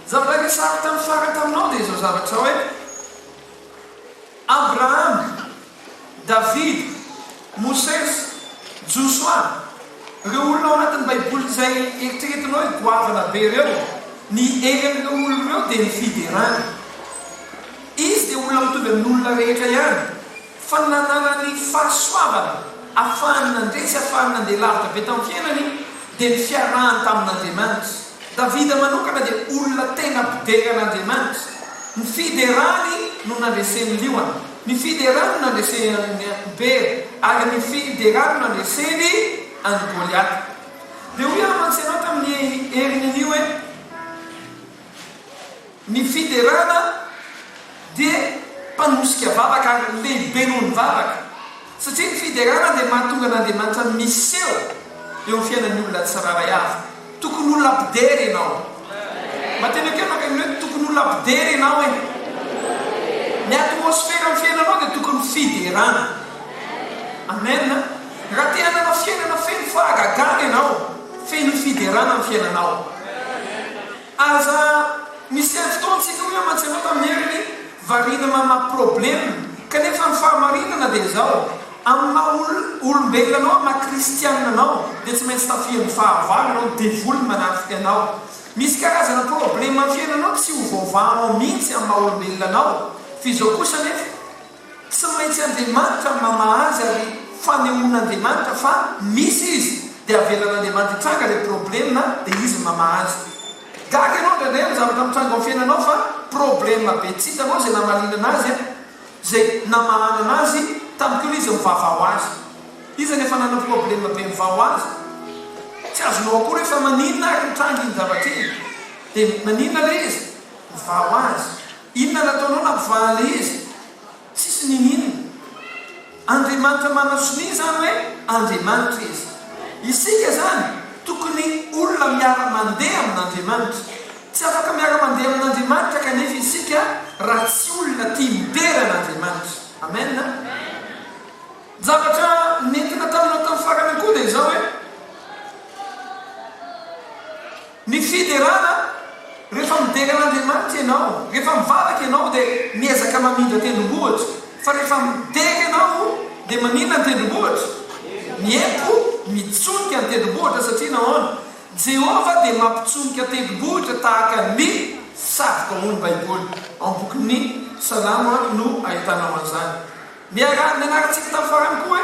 Zavatra niresahako tamin'ny farany taminao dia izao zavatra izao hoe, Abrahama, Davida, Mosesy, Josoa, ireo olona ao anatin'ny Baiboly izay eritreretinao hoe goavana be ireo, ny hery amin'ireo olona ireo dia ny fiderana. Izy dia olona mitovy amin'olona rehetra ihany. Fananana ny fahasoavana afahany nandeha sy afahany nandeha lavitra be tamin'ny fiainany dia ny fiarahany tamin'Andriamanitra. Davida manokana dia olona tena mpibeka an'Andriamanitra. Ny fiderany no nandresen'ny liona, ny fiderany no nandreseny an'i Bera, ary ny fiderany no nandreseny an'i Goliata. Dia hoy aho mantsy ianao tamin'ny herin'anio hoe. Ny fiderana dia mpanosika vavaka ary lehibe noho ny vavaka, satria ny fiderana dia mahatonga an'Andriamanitra miseho eo amin'ny fiainan'ny olona tsirairay avy. Tokony olona mpidera ianao. Mba tena ekeo naka ny hoe tokony olona mpidera ianao e. Ny atmosferan'ny fiainanao dia tokony fiderana. Amen a. Raha te hanana fiainana feno fahagagana ianao, feno fiderana ny fiainanao. Aza miseho fotoana tsika hoe mantsy anao tamin'ny heriny variana mamaha problème kanefa ny fahamarinana dia izao amin'ny maha olombelona anao maha kristianina anao dia tsy maintsy tafihan'ny fahavalo ianao ny devoly manafika anao misy karazana problème amin'ny fiainanao tsy ho voavahanao mihitsy amin'ny maha olombelona anao f'izao kosa anefa Tsy maintsy Andriamanitra no mamaha azy ary fanehoan'Andriamanitra fa misy izy dia avelan'Andriamanitra hitranga ilay probleme dia izy no mamaha azy. Gaga ianao indraindray amin'ny zavatra mitranga ao amin'ny fiainanao fa probleme be tsy hitanao izay namaliana anazy an! izay namahana anazy tamin'ny koa ilay izy mivava ho azy. Iza no efa nanana probleme be mivà ho azy? Tsy azonao akory hoe fa maninona ary nitranga iny zavatra iny? Dia maninona ilay izy? Mivà ho azy. Inona nataonao nampivahala izy? Tsisy nininona. Andriamanitra manao sonia izany hoe Andriamanitra izy. Isika izany tokony olona miara-mandeha amin'Andriamanitra. Tsy afaka miara-mandeha amin'Andriamanitra kanefa isika raha tsy olona tia midera an'Andriamanitra. Amen. Zavatra nentina taminao tamin'ny farany koa dia izao hoe. Ny fiderana, Rehefa midera an'Andriamanitra ianao, rehefa mivavaka ianao dia miezaka mamindra tendrombohitra, fa rehefa midera ianao dia maninona ny tendrombohitra? Miempo, mitsonika ny tendrombohitra satria nahoana? Jehovah dia mampitsonika tendrombohitra tahaka ny fisavika hoy ny Baiboly. Ao amin'ny bokin'ny Salamo no ahitanao an'izany. Niaraha nianarantsika tamin'ny farany koa hoe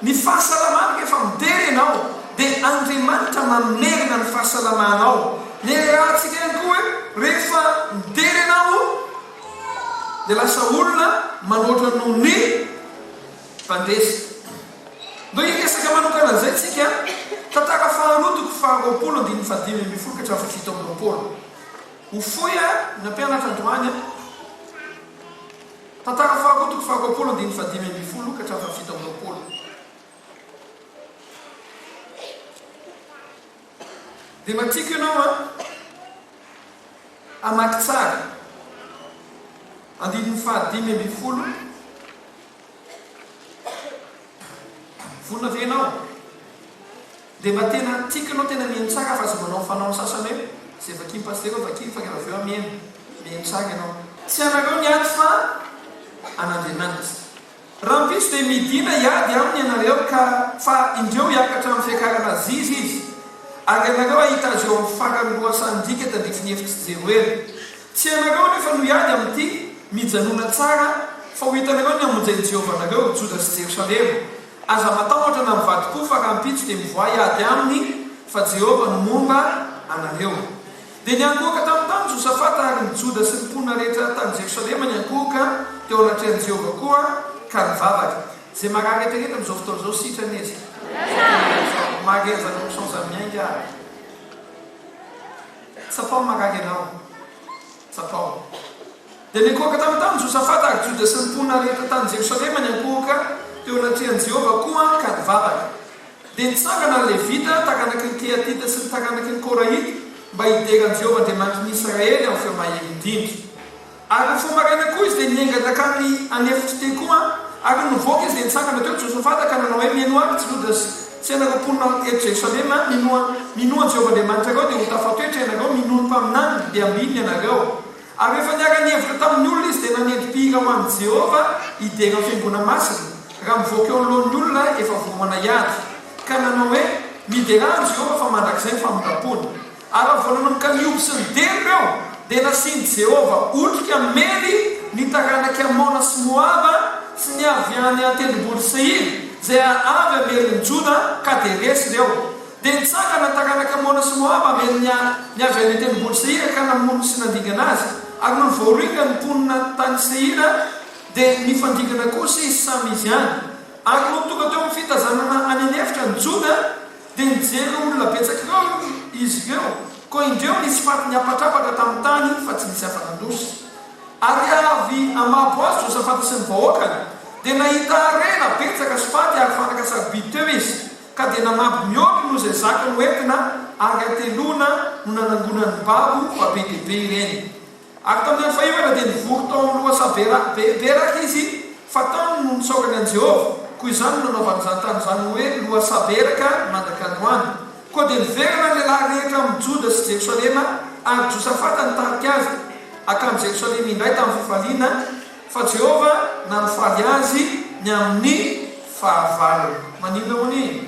ny fahasalamana rehefa midera ianao dia Andriamanitra mamerina ny fahasalamanao. Niarahantsika ihany koa hoe rehefa midera ianao dia lasa olona manoatra noho ny fandresy. Ndeha hiresaka manokana an'izay tsika, Tantara faharoa toko faharoapolo andininy fahadimy ambin'ny folo ka hatramin'ny fahafito amby roapolo. Ho fohy ary ny nampianatra androany an! Tantara faharoa toko faharoapolo andininy fahadimy ambin'ny folo ka hatramin'ny fahafito amby roapolo Dia mba tiako ianao a hamaky tsara andininy fahadimy ambin'ny folo Vonona ve ianao? Dia mba tena tikanao tena mihaino tsara fa tsy manao fanao ny sasany hoe izay vakin'ny pasitera eo vakiko fa rehefa avy eo aho mihaino. Mihaino tsara ianao. Tsy anareo ny ady fa an'Andriamanitra. Rahampitso dia midina hiady aminy ianareo ka fa indreo hiakatra amin'ny fiakarana aziz izy ary ianareo hahita azy eo amin'ny faran'ny lohasahan-dika tandrify ny hefitr'i Jeroela. Tsy ianareo anefa no hiady amin'ity. Mijanona tsara fa ho hitanareo ny hamonjy an'i Jehovah anareo, Joda sy Jerosalema. Aza matahotra na mivadi koa fa rahampitso dia mivoay ady aminy fa Jehovah no momba anareo. Dia niankohoka tamin'ny tany Josafata ary ny Joda sy ny mponina rehetra tany Jerosalema niankohoka teo anatrehan'i Jehovah koa ka nivavaka. Izay marary eritrereto amin'izao fotoana izao sitrana izy. Maria zany option zany miainga ary. Tsapao marary ianao. Tsapao. Dia nikohaka tany tamin'i Josafata ary Joda sy ny mponina rehetra tany Jerosalema niankohoka teo anatrehan'i Jehovah koa ka nivavaka. Dia nitsangana ny Levita, taranaky ny Kehatita sy ny taranaky ny Korahita, mba hidera an'i Jehovah Andriamanitry ny Israely amin'ny feo mahery indrindra. Ary ny feo maraina koa izy dia niainga nankany an'efitr'i Tekoa, ary nivoaka izy dia nitsangana teo Josafata ka nanao hoe, Mihainoa ahy, ry jirodrasy! Tsy ianareo mponina eto Jerosalema, minoa minoa an'i Jehovah Andriamanitra anareo, dia ho tafatoetra ianareo, minoa ny mpaminany ry Beambiany ianareo. Ary rehefa niara-nihevitra tamin'ny olona izy, dia nanendry mpihira ho an'i Jehovah hidera ny fiangonana masina, raha mivoaka eo anoloan'ny olona efa voaomana hiady, ka nanao hoe, Miderà an'i Jehovah, fa mandrakizay ny famindram-pony. Ary raha vao nanomboka nihoby sy nideha ireo, dia nasian'i Jehovah otrika hamely ny taranak'i Amona sy Moaba sy ny avy any an-tendrombohitry Seira, izay avy hamelin'i Joda, Kaderesy ireo. Dia nitsangana ny taranak'i Amona sy Moaba hamely ny ny avy any an-tendrombohitry Seira ka namono sy nandingana azy. Ary nony voaringany ny mponina tany Seira, dia nifandringana kosa izy samy izy any. Ary nony tonga teo amin'ny fitazanana any an'efitra ny Joda, Dia nijery ireo olona betsaka ihany izy ireo, koa indreo nisy faty niapatrapatra tamin'ny tany fa tsy nisy afa-nandosy. Ary avy ama Boazy, Josafata sy ny vahoakany dia nahita harena betsaka sy faty ary fanaka sarobidy teo izy, ka dia nanamby mihoatra noho izay zaka noentina, ary hateloana no nanangonany babo fa be dia be ireny. Ary tamin'ny andro fahefana dia nivory tao amin'ny lohasaha be beraka izy, fa taminy no nitsaorany an'i Jehovah. Koa izany no nanaovany izany tany izany ho hoe Lohasaha Beraka mandrak'androany. Koa dia niverina ny lehilahy rehetra amin'i Joda sy Jerosalema, ary Josafata nitarika azy hankany Jerosalema indray tamin'ny fifaliana, fa Jehovah nampifaly azy ny amin'ny fahavalony. Maninona hono i?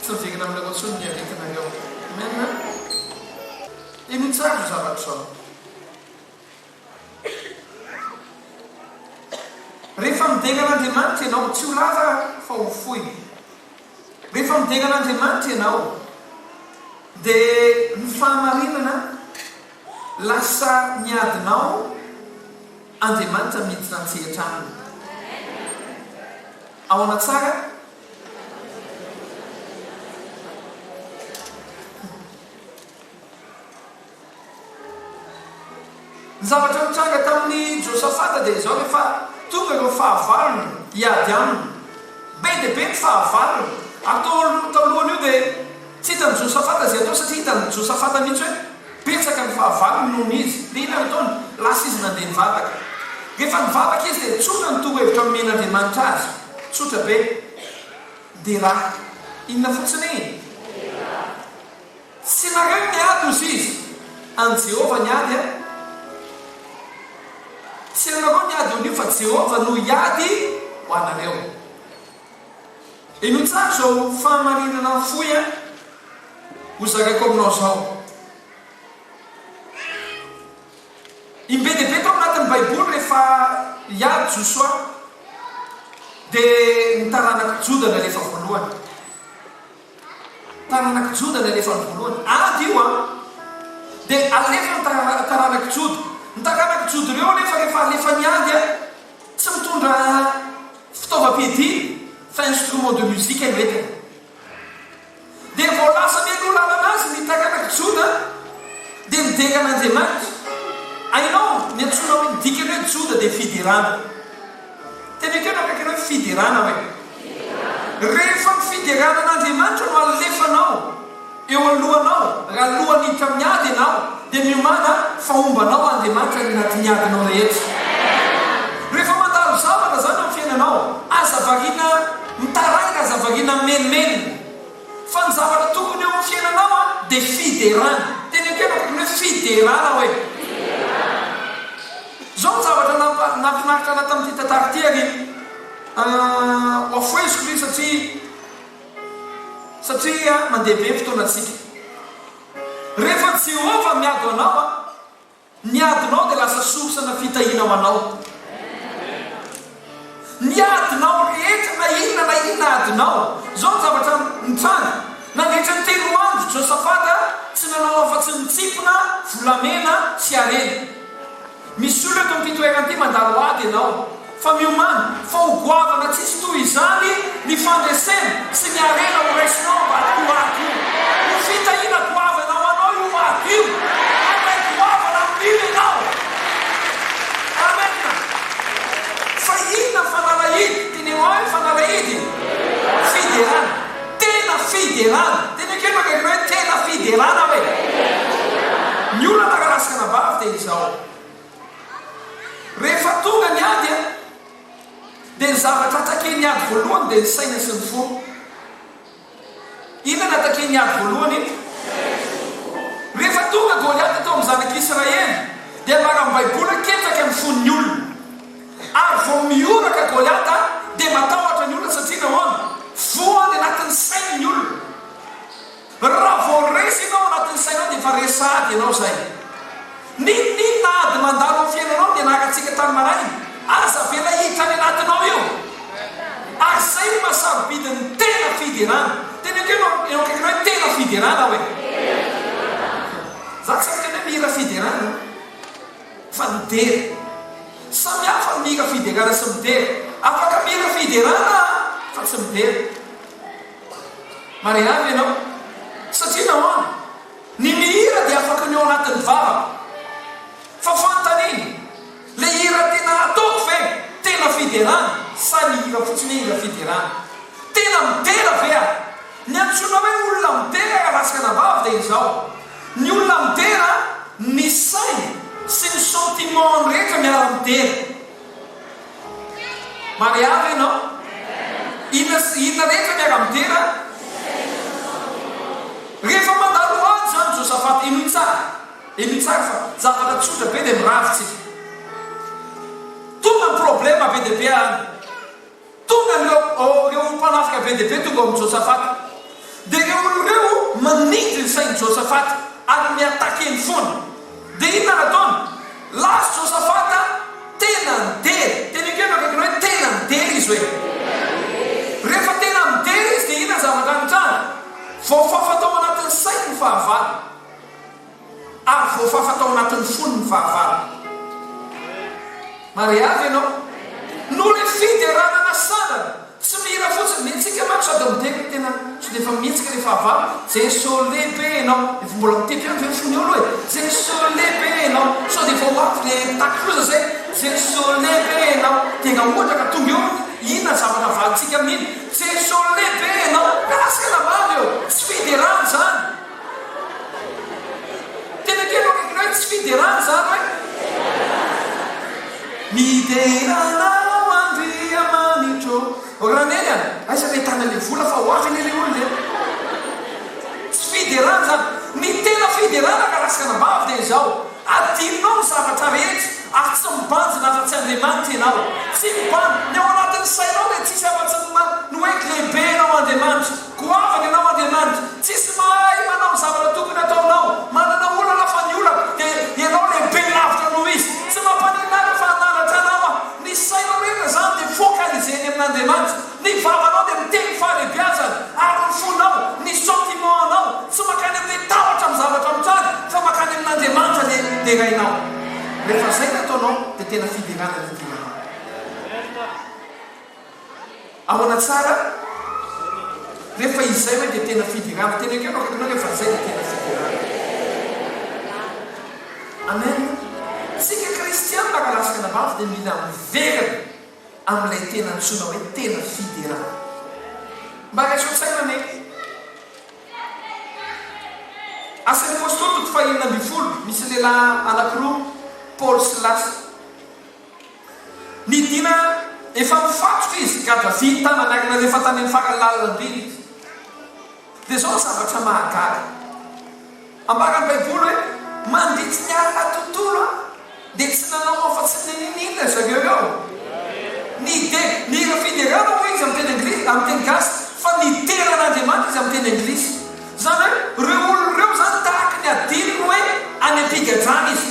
Tsy hojerena aminareo intsony ny aretinareo. Amen a! Henoy tsara izao zavatra izao. Rehefa midera an'Andriamanitra ianao, tsy ho lava fa ho fohy. Rehefa midera an'Andriamanitra ianao, dia ny fahamarinana lasa ny adinao, Andriamanitra miditra an-tsehatra aminy. Ahoana tsara? Ny zavatra nitranga tamin'i Josafata dia izao, rehefa tonga ireo fahavalony hiady aminy, be dia be ny fahavalony, ary tao alohan'io dia tsy hitan'i Josafata izay atao, satria hitan'i Josafata mihitsy hoe. Betsaka ny fahavalony noho ny izy. Dia inona no ataony? Lasa izy nandeha nivavaka. Rehefa nivavaka izy dia nitsoaka ny torohevitra nomen'Andriamanitra azy. Tsotra be. Dera. Inona fotsiny? Dera. Tsy nareo ny ady, hozy izy. An'i Jehovah ny ady, an? Tsy anareo ny ady ho an'io, fa Jehovah no hiady ho anareo. Eno tsara izao fahamarinana fohy a! Ho zakako aminao izao. Ny be dia be tao anatin'ny Baiboly rehefa hiady Josoa dia ny taranak'i Joda nalefa voalohany. Taranak'i Joda nalefa ny voalohany. Ady io a! Dia alefa ny taranak'i Joda. Ny taranak'i Joda ireo anefa rehefa alefa ny ady a! Tsy mitondra fitaovam-piadiana fa instrument de musique no entiny. Dia vao lasa mialoha lalana azy ny takalaka Joda dia midenga an'Andriamanitra. Hainao ny antsoina hoe, ny dikany hoe Joda dia fiderana. Tena ekeo na kaikanao hoe fiderana hoe. Rehefa ny fiderana an'Andriamanitra no alefanao. Eo alohanao, raha alohan'ny hiditra amin'ny ady ianao, dia miomàna fa homba anao Andriamanitra any anatin'ny adinao rehetra. Rehefa mandalo zavatra izany eo amin'ny fiainanao, aza variana mitaraina, aza variana mimenomenona. Fa ny zavatra tokony eo amin'ny fiainanao dia fiderana. Teny an-kiana tokony hoe fiderana hoe. Izao no zavatra nahafinaritra ahy tamin'ity tantara ity, ary hoafoheziko izy satria. satria mandeha be ny fotoanantsika. Rehefa Jehovah miady ho anao, ny adinao dia lasa source ana fitahiana ho anao. Ny adinao rehetra na inona na inona adinao, izao ny zavatra nitranga, nandritra ny telo andro Josafata tsy nanao afa-tsy nitsipona volamena sy harena. Misolo eto amin'ity toerana ity mandalo ady ianao, fa miomàna fa ho goavana tsy hisy toy izany ny fandresena sy ny harena ho raisinao ambadik'io ady io. Ho fitahiana goavana ho anao io ady io. Handray goavana amin'io ianao. Amena. Fa inona ny fanalahidy? Teneno ahy ny fanalahidy. Fiderana. Tena fiderana! Teny akaiky fa akaiky hoe tena fiderana hoe. Ny olana raha ratsy anabavy dia izao, rehefa tonga ny ady a, dia ny zavatra takian'ny ady voalohany dia ny saina sy ny fo. Inona no hatakian'ny ady voalohany eto? Rehefa tonga Goliata tao amin'ny zanak'Israely dia laram-baibola ketraka ny fon'ny olona. Ary vao mihoraka Goliata dia matahotra ny olona satria nahoana? Voa any anatin'ny sainy ny olona. Raha vao resy ianao anatin'ny sainao dia efa resy sahady ianao izay. N'inon'inona ady mandalo amin'ny fiainanao dia naka antsika tany maraina, aza avela hiditra any anatinao io. Ary izay no maha-sarobidy ny tena fiderana. Teneniko eo eo akaikinao hoe tena fiderana aho e. Za tsy miteny hoe mihira fiderana. fa midera. Samy hafa ny mira fiderana sy midera. Afaka mira fiderana fa tsy midera. Marihana ve ianao? Satria nahoana? Ny mihira dia afaka ny ao anatin'ny vavako. Fa fanontaniana, le hira tena ataoko ve? Tena fiderana? Sa ny hira fotsiny hoe hira fiderana? Tena midera ve aho? Ny antsoina hoe olona midera raha tsy anabavy dia izao. Ny olona midera, ny sainy sy ny sentiment-ny rehetra miara-midera. Mariahy ve ianao? Inona sy inona rehetra miara-midera? Rehefa mandalo ady izany Josaphat, henoy tsara, henoy tsara fa zavatra tsotra be dia mirary tsika. Tonga ny problème be dia be any. Tonga ireo ireo ho mpanafika be dia be tonga ao amin'i Josafata. Dia ireo olona ireo manindry ny sain'i Josafata ary mi-attaque eny foana. Dia inona no ataony? Last Josafata tena midera. Teneno kely eo akaikiny hoe tena midera izy hoe. Rehefa tena midera izy dia inona ny zavatra nitranga? Voafafa tao anatin'ny sainy ny fahavalo. Ary voafafa tao anatin'ny fony ny fahavalo. Maria ve ianao? Noho ilay fiderana nasandrana. Tsy mihira fotsiny, mihetsika manko sady midera ny tenany. Sao dia efa mihetsika ilay fahavalo? Jeso lehibe ianao. Efa mbola mitepy ihany ve ny fony eo aloha e? Jeso lehibe ianao. Sao dia efa ho avy ilay takiloza izay? Jeso lehibe ianao. Dia nga ohatra ka tonga eo ny inona ny zavatra avalintsika amin'iny? Jeso lehibe ianao. Miala sela mamy eo. Tsy fiderana izany. Tena tianao regret ny tsy fiderana zany hoe? Midera anao Andriamanitro ô! Raha neny a! Aiza ve tana le vola fa ho avy anie le olona e! Tsy fiderana zany! Ny tena fiderana ka raskana ambavy dia izao, adinonao ny zavatra rehetra ary tsy mibanjina afa-tsy Andriamanitra ianao! Tsy mibanjina! Ny ao anatin'ny sainao dia tsisy afa-tsy ny hoe lehibe ianao Andriamanitra! Goavana ianao Andriamanitra, tsisy mahay manao ny zavatra tokony hataonao, manana olana fa ny olako dia ianao lehibe lavitra noho izy, tsy mampaninona ahy fa hanandratra anao aho, ny sainao rehetra izany dia focaliser eny amin'Andriamanitra, ny vavanao dia miteny fahalebiazana ary ny fonao, ny sentiment anao tsy makany amin'ilay tahotra amin'ny zavatra mitranga fa makany amin'Andriamanitra dia derainao, rehefa izay ny ataonao dia tena fiderana ny fivelaranao. Ahoana tsara? Rehefa izay hoe dia tena fiderana. Tena ekeo no akaikinao, rehefa izay dia tena fiderana. Amen. Isika kristiana raha lasaka any ambavy dia mila miverina amin'ilay tena antsoina hoe tena fiderana. Mba raiso an-tsaina anie. Asan'ny Apostoly toko fahenina ambin'ny folo, misy lehilahy anankiroa, Paoly sy Lasy. Midina efa mifatotra izy, Gaddafi tanana akina rehefa tany amin'ny farany lalandriana izy. Dia izao ny zavatra mahagaga. Ambaran'ny baiboly hoe mandritry ny alina tontolo an, dia tsy nanao afa-tsy ny nini-nina ry zareo ireo. Nide, nira fiderana hoy izy amin'ny teny anglisy, amin'ny teny gasy, fa nidera an'Andriamanitra izy amin'ny teny anglisy. Izany hoe ireo olona ireo izany tahaka ny adinony hoe any am-pigadrana izy.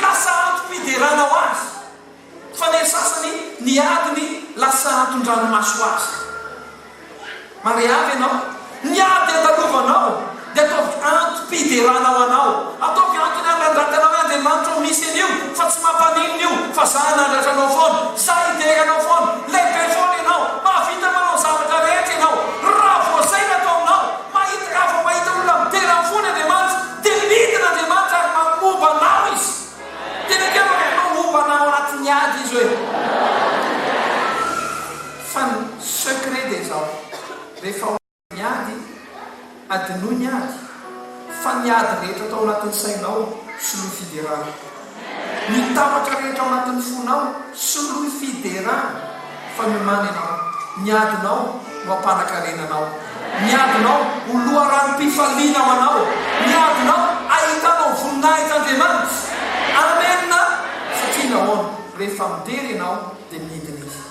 Lasa antom-piderana ho azy, fa ny sasany niady ny lasa anton-dranomaso ho azy. Marehave ianao, ny ady andalovanao dia ataovy antom-piderana ho anao, ataovy antony handrandrakanao i Andriamanitra ao misy an'io, fa tsy mampaninona io, fa za hanandratra anao foana, za hidera anao foana, lehibe foana ianao, mahavita manao ny zavatra rehetra ianao, raha vao zay ny atao aminao, mahita raha vao mahita olona midera ny fony Andriamanitra, Dia midina Andriamanitra ary mamoba anao Izy. Tena kely hoe Ianao homba anao ao anatin'ny ady Izy hoe. Fa ny secret dia izao, rehefa ao anatin'ny ady, adinoy ny ady, fa ny ady rehetra tao anatin'ny sainao, soloy fiderana. Ny tahotra rehetra ao anatin'ny fonao, soloy fiderana fa miomàna ianao. Ny adinao no ampanankarena anao. Ny adinao ho loharanom-pifaliana ho anao. Ny adinao ahitanao voninahitr'Andriamanitra. Amena! Satria nahoana? Rehefa midera ianao dia midina Izy.